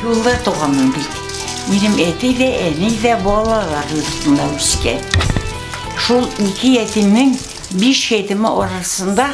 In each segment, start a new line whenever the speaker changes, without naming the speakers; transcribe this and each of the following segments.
Юлда туганмын бит. Минем әти дә, әни дә балалар йортында үскән. Шул ике ятимнең биш ятиме арасында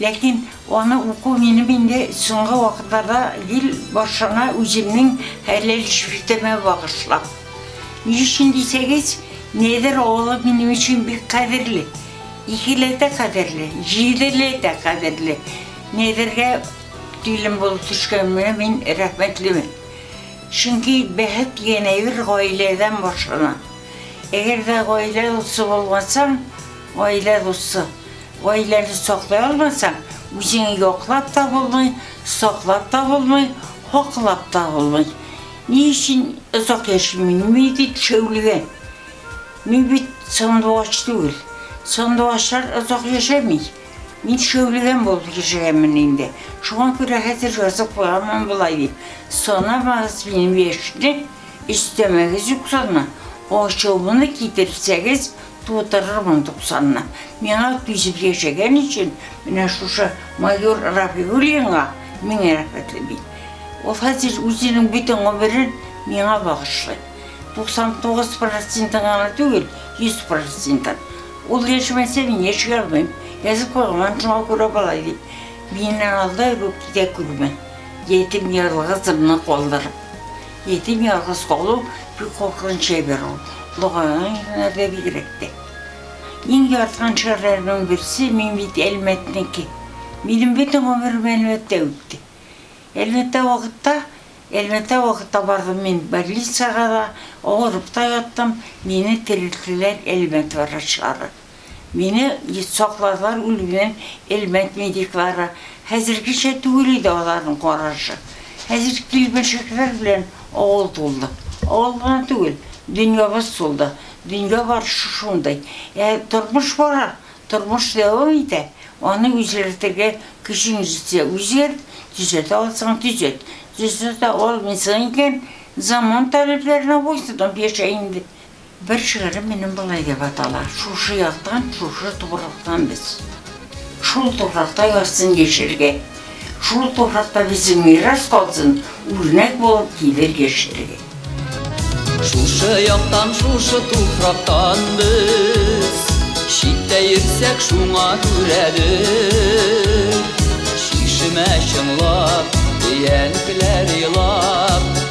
Ләкин аны уку минем инде соңгы вакытларда гел барчаңа үземнең хәләл шифтәмә багышлам. Ни өчен дисәгез, Нәдер авылы минем өчен бик кадерле. Икеләтә кадерле, җиделәтә кадерле. Нәдергә килен булып төшкәнемә мин рәхмәтлемен. Чөнки бәхет янәбер гаиләдән башлана. Әгәр дә гаилә дусты булмасаң, гаилә дусты. Гаиләне саклый алмасаң, үзеңне яклап та булмый, саклап та булмый, хаклап та булмый. Ни өчен озак яшимин? Мин бит шәүлгә. Мин бит сандугач түгел. Сандугачлар озак яшәми. Мин шәүлгәм булып яшәгәнмен инде. Шуңа күрә хәзер язып куямын болай дип. Санамагыз минем яшьне, өстәмәгез юкларны. Ачуымны китерсәгез, Тутырырмын туксанны. Миңа түзеп яшәгән өчен менә шушы майор Рафигуллинга мең рәхмәтле мин. Ул хәзер үзенең бөтен гомерен миңа багышлый. 99 процентын гына түгел, 100 процентын. Ул яшәмәсә, мин яши алмыйм. Язып куйган, шуңа күрә болай ди. Миннән алда йөрү китә күрмә. Ятим ялгызымны калдырып. Ятим ялгыз калу бик куркыныч әйбер ул, лагаен егеннәрдә бигрәк тә. Иң яраткан шәһәрләремнең берсе, мин бит Әлмәтнеке. Минем бөтен гомерем Әлмәттә үтте. Әлмәттә вакытта, Әлмәттә вакытта бардым мин больницага да, авырып та яттым, мине терелттеләр Әлмәт врачлары. Мине сакладылар үлемнән, Элмәт медиклары. Хәзергечә түгел иде аларның карашы. Хәзер килмешәкләр белән авыл тулды. Авыл гына түгел, дөньябыз тулды. Дөнья барышы шундый. Ә тормыш бара, тормыш дәвам итә. Аны үзгәртергә көчең җитсә, үзгәрт, төзәтә алсаң, төзәт. Төзәтә алмыйсың икән, заман таләпләренә буйсынып яшә инде. Бер шигырем минем болай дип атала, Шушы яктан, шушы туфрактан без. Шул туфракта язсын яшьелге, Шул туфракта безнең мирас калсын, Үрнәк булып килер яшьләргә. Шушы яктан, шушы туфрактан без, Читтә йөрсәк, шуңа күрәдер. Чишмә чыңлап, янкеләр елап,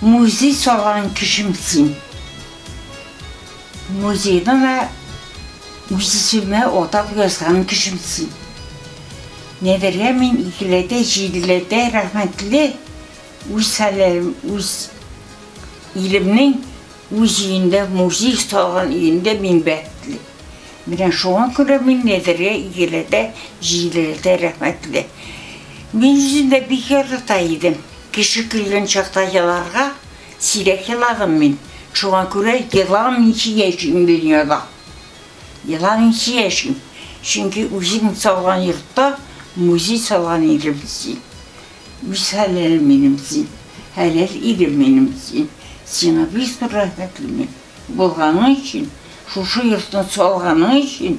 Музей салган кешем син. Музейны да үз исемемә атап язган кешем син. Нәдергә мин икеләтә, җиделәтә рәхмәтле, үз хәлләрем, үз илемнең үз өендә, музей салган өендә мин бәхетле. Менә шуңа күрә мин Нәдергә икеләтә, җиделәтә рәхмәтле. Мин үзен дә бик ярата идем. Кеше көлгән чакта еларга сирәк еладым мин. Шуңа күрә еламыйча яшим дөньяда. Еламыйча яшим. Чөнки үзең салган йортта музей салган идем син. Үз хәләлем минем син. Хәләл ирем минем син. Сиңа бик зур рәхмәтле мин. Булганың өчен, шушы йортны салганың өчен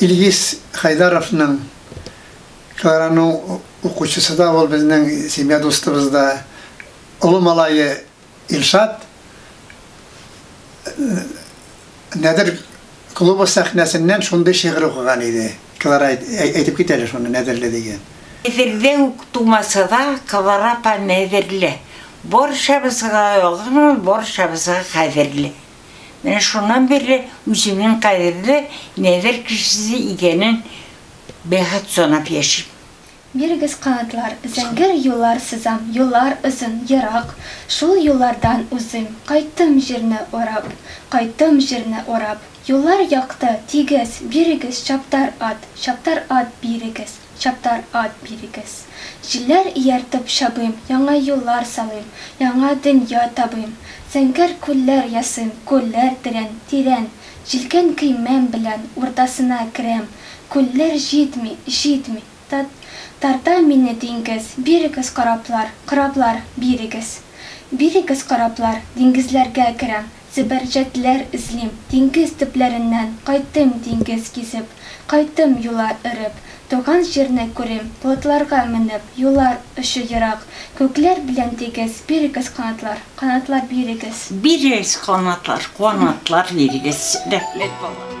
Илгиз Хәйдаровның Тараның укучысы да ул безнең семья дустыбыз да. Олы малае Илшат Нәдер клубы сәхнәсеннән шундый шигырь укыган иде. Клара әйтеп кит әле шуны, Нәдерле дигән. Нәдерле үк тумасада, Клара апа Нәдерле. Барчабызга ягымлы, барчабызга кадерле. Менә шуннан бирле үземнең кадерле Нәдер кешесе икәнен бәхет санап яшим. Бирегез канатлар, зәңгәр юллар сызам, Юллар озын, ерак, шул юллардан узыйм, Кайттым җирне урап, кайттым җирне урап. Юллар якты, тигез, бирегез чаптар ат, Чаптар ат бирегез, чаптар ат бирегез. Җилләр ияртеп чабыйм, яңа юллар салыйм, Яңа дөнья табыйм, зәңгәр күлләр ясыйм, Күлләр тирән, тирән, җилкән көймәм белән Уртасына керәм, күлләр җитми, җитми, Та, тарта мине диңгез, Бирегез кораблар, кораблар, бирегез. Бирегез кораблар, диңгезләргә керәм, Зөбәрҗәтләр эзлим, диңгез төпләреннән, Кайтыйм диңгез гизеп, кайтыйм юлар өреп, Туган җирне күрим, плотларга менеп, Юлар очы ерак, күкләр белән тигез, Бирегез канатлар, канатлар, бирегез. Бирегез канатлар, канатлар, бирегез. Рәхмәт, балалар.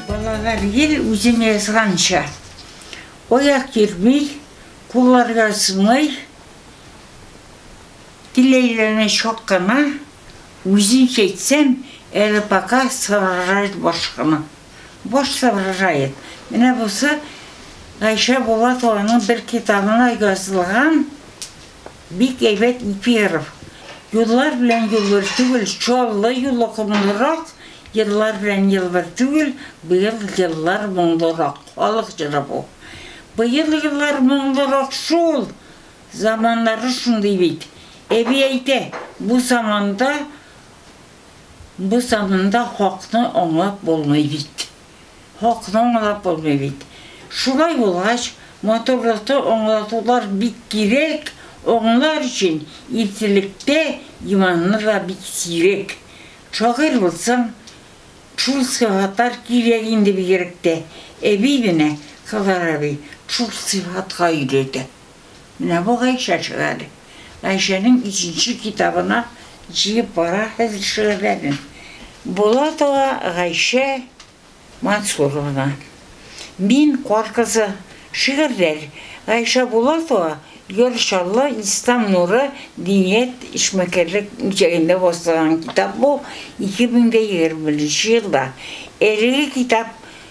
Балалар гел үзем язганча, аяк йөрми, куллар язмый, тел әйләнә чак кына, үземчә әйтсәм, әле пока соображает баш кына. Баш соображает. Менә бусы Гайшә Булатованың бер китабына язылган Бик әйбәт Перов. Юллар белән юл бер түгел, Чаллы юлы комлырак, Еллар белән ел бер түгел, Быел еллар моңлырак. Халык җыры бу. Быел еллар моңлырак шул, Заманнары шундый бит. Әби әйтә, бу заманда, Бу заманда хакны аңлап булмый бит. Хакны аңлап булмый бит. Шулай булгач, матурлыкта аңлатулар бик кирәк, аңлар өчен иртәлектә иманны да бик сирәк. Шагыйрь булсаң, шул сыйфатлар кирәк инде бигрәк тә. Әби менә, Кызар әби, шул сыйфатка өйрәтә. Менә бу Гайшә чыга әле. Гайшәнең икенче китабына җыеп бара хәзер шигырьләрен. Булатова Гайшә Мансуровна. Мин кар кызы. Шигырьләр. Гайшә Булатова Йор Чаллы, Ислам нуры, Диният, эшмәкәрлек үзәгендә бастырган китап бу, 2021 елда. Әлеге китап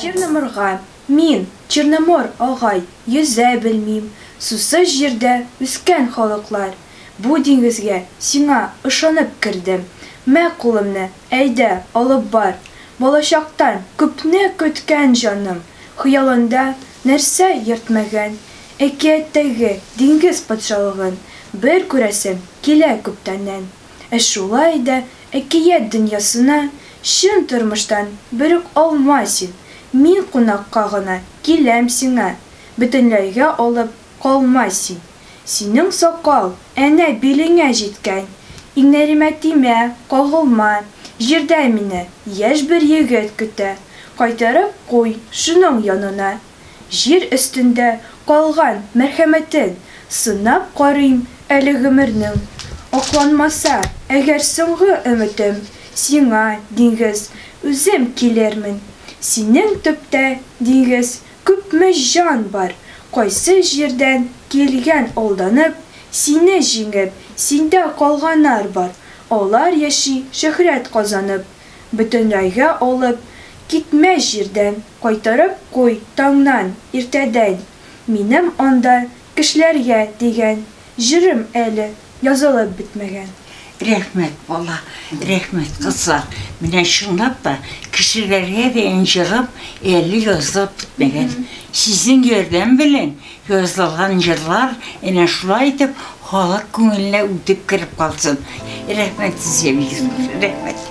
Черноморга, мин, Черномор агай, йөзә белмим, сусыз җирдә үскән халыклар, бу диңгезгә сиңа ышанып кердем, мә кулымны, әйдә, алып бар, балачактан күпне көткән җаным, хыялында Нәрсә йөртмәгән, әкияттәге диңгез патшалыгын бер күрәсем килә күптәннән. Ә шулай да әкият дөньясына чын тормыштан берүк алма син, мин кунакка гына киләм сиңа, бөтенләйгә алып калма син. Синең сакал, әнә, билеңә җиткән. Иңнәремә тимә, кагылма. Җирдә мине яшь бер егет көтә. Кайтарып куй шуның янына. Җир өстендә калган мәрхәмәтен сынап карыйм әле гомернең. Акланмаса әгәр соңгы өметем, сиңа, диңгез, үзем килермен. Синең төптә, диңгез, Күпме җан бар, кайсы җирдән килгән алданып, сине җиңеп, синдә калганар бар, алар яши шөһрәт казанып, бөтенрайгә алып китмә җирдән, кайтарып куй таңнан, иртәдән, минем анда кешеләргә дигән җырым әле. Язылып бетмәгән. Рәхмәт бала, рәхмәт кызлар. Менә чынлап та кешеләргә дә җырым әле язылып бетмәгән. Сезнең ярдәм белән язылган җырлар әнә шулай итеп халык күңеленә үтеп кереп калсын. Рәхмәт сезгә бик зур. Рәхмәт.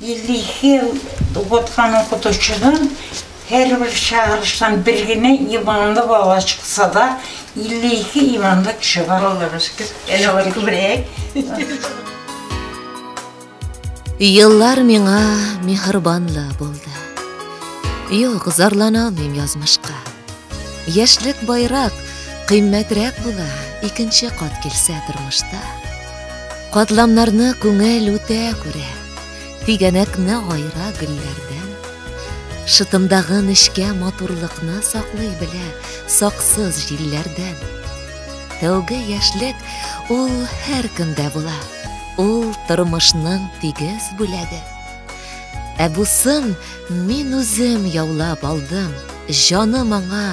52 ел укыткан укытучыдан һәрбер чыгарыштан бер генә иманлы бала чыкса да, 52 иманлы кеше бар. Аллага шөкер, әле алар күбрәк. Еллар миңа миһырбанлы булды. Юк, зарлана алмыйм язмышка. Яшьлек байрак, кыйммәтрәк була, икенче кат килсә тормышта. Катламнарны күңел үтә күрә, Тигәнәкне айра гөлләрдән. Шытымдагы нечкә матурлыкны Саклый белә саксыз җилләрдән. Тәүге яшьлек ул һәркемдә була, Ул тормышның тигез бүләге. Ә бусын мин үзем яулап алдым, Җаным аңа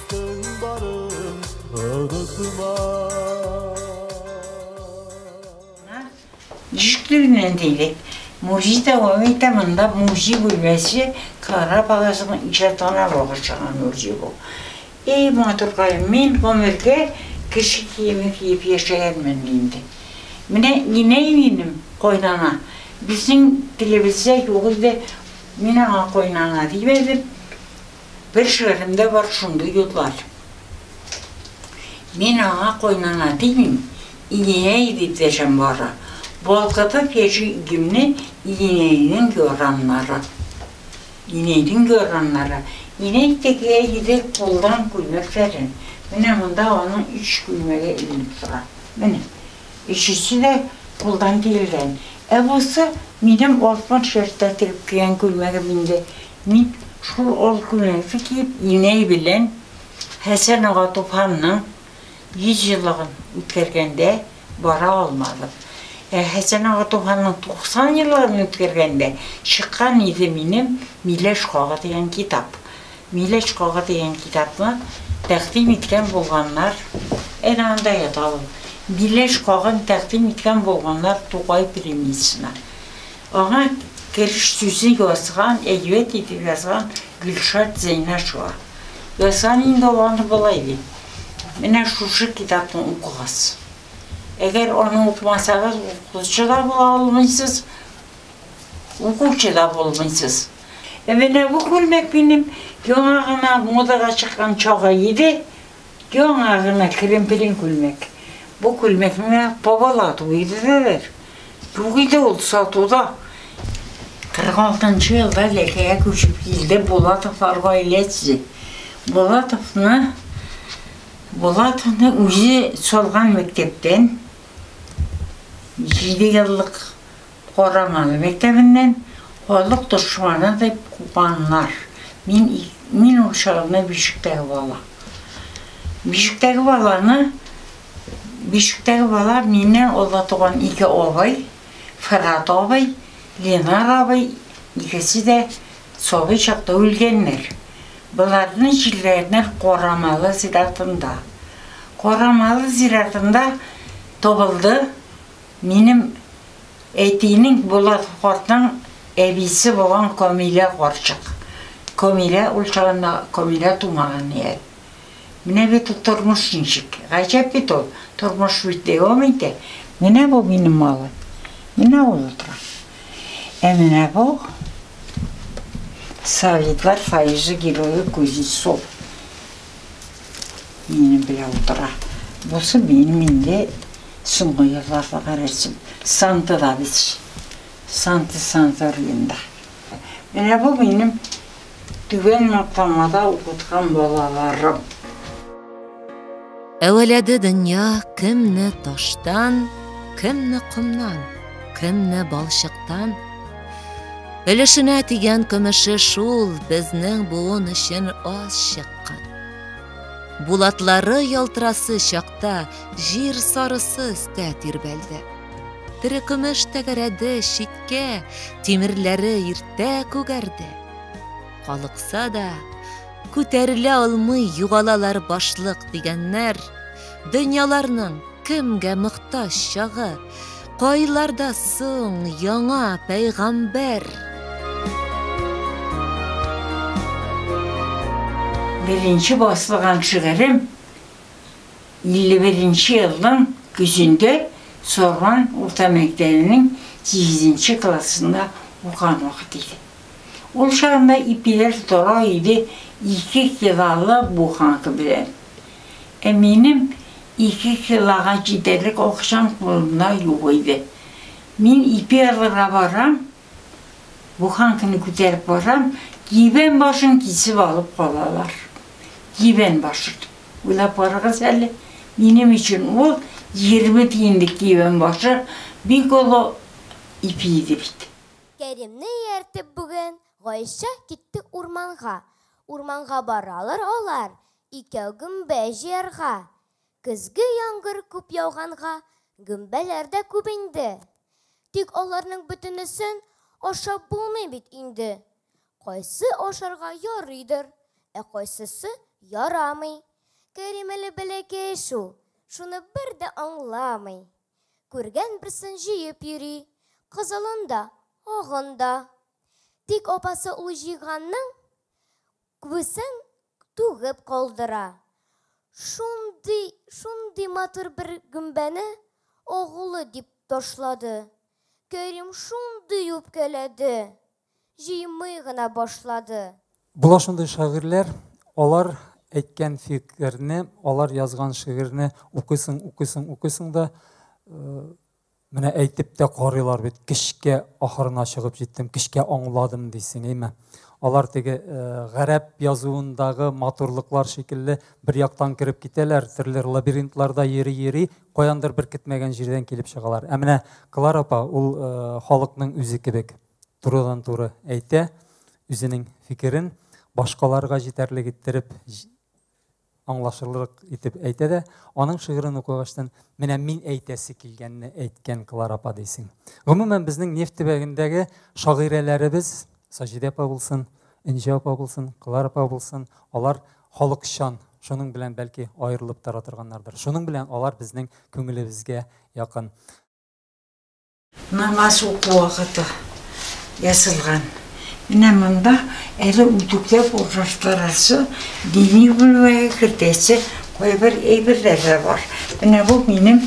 Тыңбарын онытма. Җишле генә әндәйле музей дәвам итә, монда музей бүлмәсе Клара апагызның иҗатына багышланган музей бу. И матуркаем, мин гомергә кеше киеме киеп яшәгәнмен инде. Менә инәй минем, кайнана, безнең телебездә юк иде, мин аңа кайнана димәдем. Бер шигыремдә бар шундый юллар. Мин аңа кайнана димим, Иенәй дип дәшәм бары. Балкытып яши игемне Иенәйнең яраннары. Инәйнең яраннары. Инәй тегә иде кулдан күлмәкләрен. Менә монда аның өч күлмәге эленеп тора. Менә. Өчесе дә кулдан тегелгән. Ә бусы, минем 60 яшьтә тегеп кигән күлмәгем инде. Мин шул олы күлмәкне киеп, инәй белән Хәсән ага туфанның 100 еллыгын үткәргәндә бара алмадым. Ә Хәсән ага туфанның 90 еллыгын үткәргәндә чыккан иде минем Миләш кагы дигән китап. Миләш кагы дигән китапны тәкъдим иткән булганнар, әнә анда ята ул, Миләш кагын тәкъдим иткән булганнар Тукай премиясенә. Аңа кереш сүзе язган, әйбәт итеп язган Гөлшат Зәйнәшева. Язган инде ул аны болай дип, Менә шушы китапны укыгыз. Әгәр аны укымасагыз, укытучы да була алмыйсыз, укучы да булмыйсыз. Ә менә бу күлмәк минем яңа гына модага чыккан чагы иде. Яңа гына керемпелин күлмәк. Бу күлмәкне бабалар тугы иделәр. Юк иде ул сатуда. 46 нчы елда Ләкәгә күчеп килде Булатовлар гаиләсе. Булатовны Булатовны үзе салган мәктәптән җиде еллык Караман мәктәбеннән халык дошманы дип куганнар. Мин мин ул чагны бишектәге бала. Бишектәге баланы бишектәге бала миннән олы туган ике абый, Фырат абый, Ленар абый, икесе дә сабый чакта үлгәннәр. Боларны җирләгәннәр Карамалы зиратында. Карамалы зиратында табылды. Минем әтинең Булат картның әбисе булган Камилә карчык. Камилә ул чагында Камилә тумаган ни әле. Менә бит ул тормыш ничек. Гаҗәп бит ул. Тормыш бит дәвам итә. Менә бу минем малай. Менә ул утыра. Ә менә бу Советлар Союзы герое Кузнецов. Минем белән утыра. Бусы минем инде соңгы елларда гарәсем. Санта да бит. Санта Санториенда. Менә бу минем түбән матламада укыткан балаларым. Әвәләде дөнья кемне таштан, кемне комнан, кемне балчыктан, Өлешенә тигән көмеше шул безнең буын өчен аз чыккан. Булатлары ялтырасы чакта җир сарысы өстә тирбәлде. Тере көмеш тәгәрәде, читкә, тимерләре иртә күгәрде. Калыкса да, күтәрелә алмый югалалар башлык дигәннәр, дөньяларның кемгә мохтаҗ чагы? Кайларда соң яңа пәйгамбәр? Беренче басылган шигырем 51 нче елның көзендә Сарман урта мәктәбенең сигезенче классында укыган вакыт иде. Ул чагында ипиләр тора иде ике килалап буханка белән. Ә минем ике килога җитәрлек акчам кулымда юк иде. Мин ипи алырга барам, буханканы күтәреп барам, кибән башын кисеп алып калалар. Кибән башын. Уйлап карагыз әле, минем өчен ул егерме тиенлек кибән башы бик олы ипи иде бит. Кәримне ияртеп бүген Гайшә китте урманга. Урманга баралар алар, Икәү гөмбә җыярга. Көзге яңгыр күп яуганга, гөмбәләр дә күп инде. Тик аларның бөтенесен ашап булмый бит инде. Кайсы ашарга ярыйдыр, ә кайсысы ярамый. Кәрим әле бәләкәй шул, шуны бер дә аңламый. Күргән берсен җыеп йөри, кызылын да, агын да. Тик апасы ул җыйганның күбесен түгеп калдыра. Шундый, шундый матур бер гөмбәне агулы дип ташлады. Кәрим шундый үпкәләде, җыймый гына башлады. Була шундый шагыйрьләр, алар әйткән фикерне, алар язган шигырьне укыйсың, укыйсың, укыйсың да, Менә әйтеп тә карыйлар бит, кешкә ахырына чыгып җиттем, кешкә аңладым дисең, әйме? Алар теге э, гарәп язуындагы матурлыклар шикелле бер яктан кереп китәләр, төрле лабиринтларда йөри-йөри, каяндыр бер көтмәгән җирдән килеп чыгалар. Ә менә Клар апа ул э, халыкның үзе кебек турыдан туры әйтә үзенең фикерен, башкаларга җитәрлек иттереп аңлашылырлык итеп әйтә дә, аның шигырен укыгачтан, менә мин әйтәсе килгәнне әйткән Клара апа дисең. Гомумән, безнең нефть төбәгендәге шагыйрәләребез, Саҗидә апа булсын, Энҗе апа булсын, Клара апа булсын, алар халыкчан, шуның белән бәлки аерылып тора торганнардыр. Шуның белән алар безнең күңелебезгә якын. Намаз уку вакыты ясалган. Менә монда әле үтүкләп урнаштырасы, дини бүлмәгә кертәсе кайбер әйберләр дә бар. Менә бу минем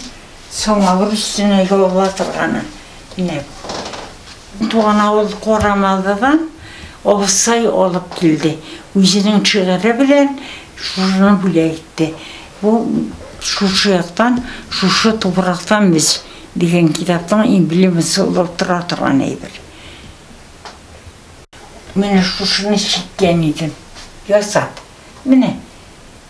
самавыр өстенә ялла торганы. Менә туган авыл Корамалдыдан абыстай алып килде. Үзенең шигыре белән шуны бүләк итте. Бу шушы яктан, шушы тупрактан без Дигән китапның эмблемасы булып тора торган әйбер. Менә шушыны чиккән идем. Ясап. Менә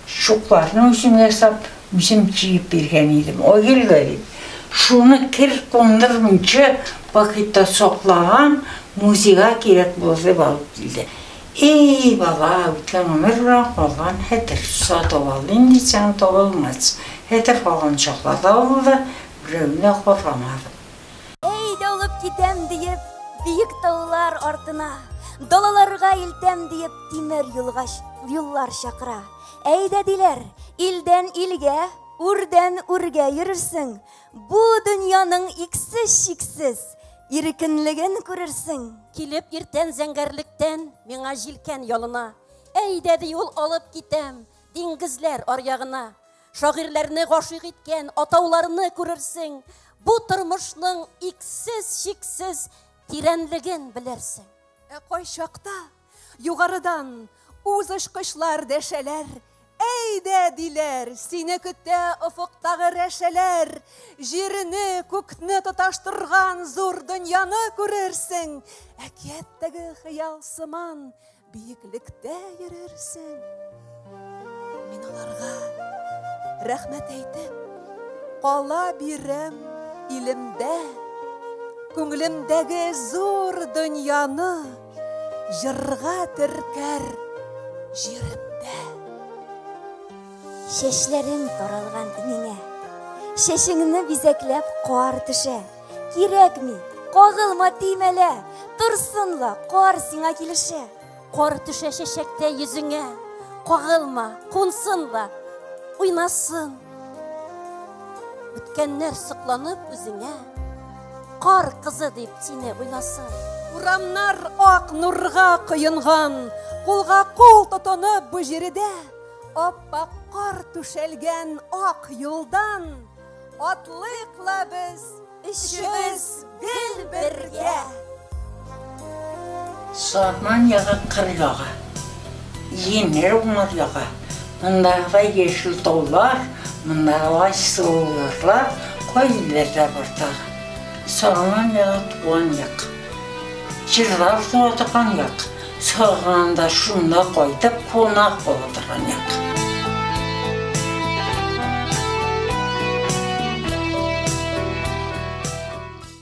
чукларны үзем ясап, үзем чигеп биргән идем. Айгөлгә дип. Шуны кер кундырмыйча пакетта саклаган, музейга кирәк булыр дип алып килде. И-и-и, бала, үткән гомер белән калган хәтер. Сатып алыйм дисәң, табылмас. Хәтер калган чаклар да булды, берәүне дә каргамадым. Әй дә алып китәм диеп, биек таулар артына, далаларга илтәм диеп, тимер юлга юллар чакыра. Әй дә диләр, илдән илгә, үрдән үргә йөрерсең. Бу дөньяның иксе чиксез. Иркенлеген күрерсең. Килеп иртән зәңгәрлектән, миңа җилкән ялына. Әйдә ди ул алып китәм, диңгезләр аръягына. Шагыйрьләрне гашыйк иткән атауларны күрерсең. Бу тормышның иксез-чиксез тирәнлеген белерсең. Ә кайчакта Югарыдан үз очкычлар дәшәләр, әйдә диләр, сине көтә офыктагы рәшәләр, җирне, күкне тоташтырган зур дөньяны күрерсең, әкияттәге хыял сыман биеклектә йөрерсең. Мин аларга рәхмәт әйтеп, кала бирәм илемдә, күңелемдәге зур дөньяны Җырга төркәр җиремдә. Чәчләрең таралган инеңә. Чәчеңне бизәкләп кар төшә. Кирәкми, кагылма тимәлә. Торсынла, кар сиңа килешә. Кар төшә чәчәктә йөзеңә. Кагылма, кунсынла, уйнасын. Үткәннәр сокланып үзеңә. Кар кызы дип сине уйласын. Урамнар ак нурга коенган, кулга кул тотынып бу җиредә аппак кар түшәлгән ак юлдан атлыйк ла без өчебез гел бергә. Сарман ягы кыр ягы. Җиңел уңыр ягы. Мондагыдай яшел таулар, мондагыдай сылу ярлар кайда җирләрдә бар тагы? Сарман ягы туган як. Җырлар туа торган як. Сагынганда шунда кайтып кунак була торган як.